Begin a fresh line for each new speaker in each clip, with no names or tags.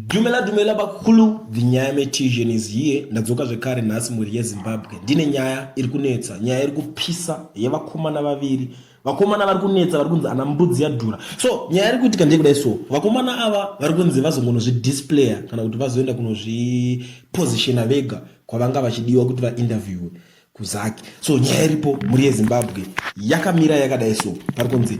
Dumela dumela bakulu the nyaya metisian is here ndadzoka zvekare nhasi mhuri yezimbabwe ndine nyaya iri kunetsa nyaya iri kupisa yevakomana vaviri vakomana vari kunetsa vari kunzi ana mbudzi yadhura so nyaya iri kuitika ndeyekudai so vakomana ava vari kunzi vazongonozvidisplaya kana kuti vazoenda kunozvipositiona vega kwavanga vachidiwa kuti vainterviewe kuzaki so nyaya iripo mhuri yezimbabwe yakamira yakadai so pari kunzi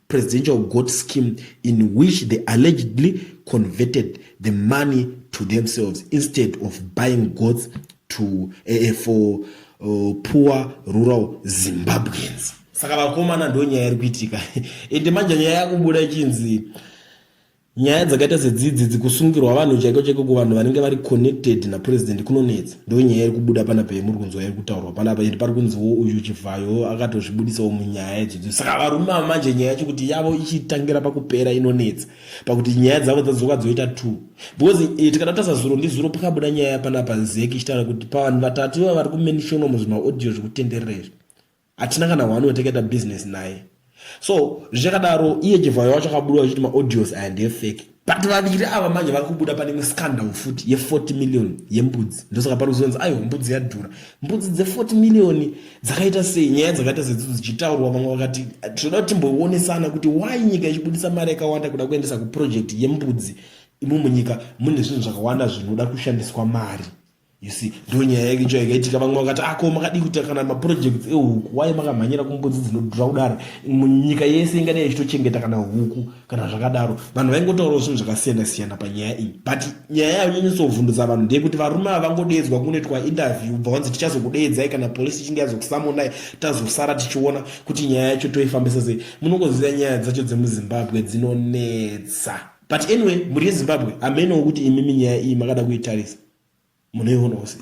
presidential goat scheme in which they allegedly converted the money to themselves instead of buying goats to, uh, for uh, poor rural zimbabweans saka vakomana ndo nyaya iri kuitika ende manje nyaya yakubuda chinzi Nyaya dzakaita sedzidzi dzikusungirwa vanhu chaiko chaiko kuvanhu vanenge vari connected napresident kunonetsa. Ndonyaya iri kubuda panapa yemuri kunzwa iri kutaurwa panapa and pari kunziwo uyu Chivhayo akatozvibudisawo munyaya idzodzo. Saka varume ava manje nyaya yacho kuti yavo ichitangira pakupera inonetsa pakuti nyaya dzavo dzadzoka dzoita two because eh, tikada kutasa zuro ndizuro pakabuda nyaya panapa nzeki ichitaura kuti pavanhu vatatu iva vari kumenishonwa muzvimaaudio zvekutenderera izvi hatina kana one watakaita business naye so zvichakadaro iye jevhayo wacho akabuda vachiti maaudios aya ndeefake but vaviri ava manje vari kubuda pane imwe scandal futi ye40 million yembudzi ndosaka pari kuzonzi aiwa mbudzi yadhura mbudzi dze40 million dzakaita sei nyaya dzakaita sedzidzo dzichitaurwa vamwe vakati tinoda kuti timboonesana kuti why nyika ichibudisa mari yakawanda kuda kuendesa kuproject yembudzi imo munyika mune zvinhu zvakawanda zvinoda kushandiswa mari you see ndo nyaya yake icho yakaitika vamwe vakati ako ah, makadii kuita kana maprojects ehuku waye makamhanyira kumbudzi dzinodhura kudaro munyika yese ingadai ichitochengeta kana huku kana zvakadaro vanhu vaingotaurawo zvinhu zvakasiyana siyana panyaya iyi but nyaya yanyanyisovhundutsa vanhu ndeyekuti varume ava vangodeedzwa kunoitwa interview bva vanzi tichazokudeedzai kana polisi ichinge yazokusamonai tazosara tichiona kuti nyaya yacho toifambisa sei munongoziva nyaya dzacho dzemuzimbabwe dzinonetsa but anyway mhuri yezimbabwe hamenowo kuti imimi nyaya iyi makada kuitarisa munoionawo sei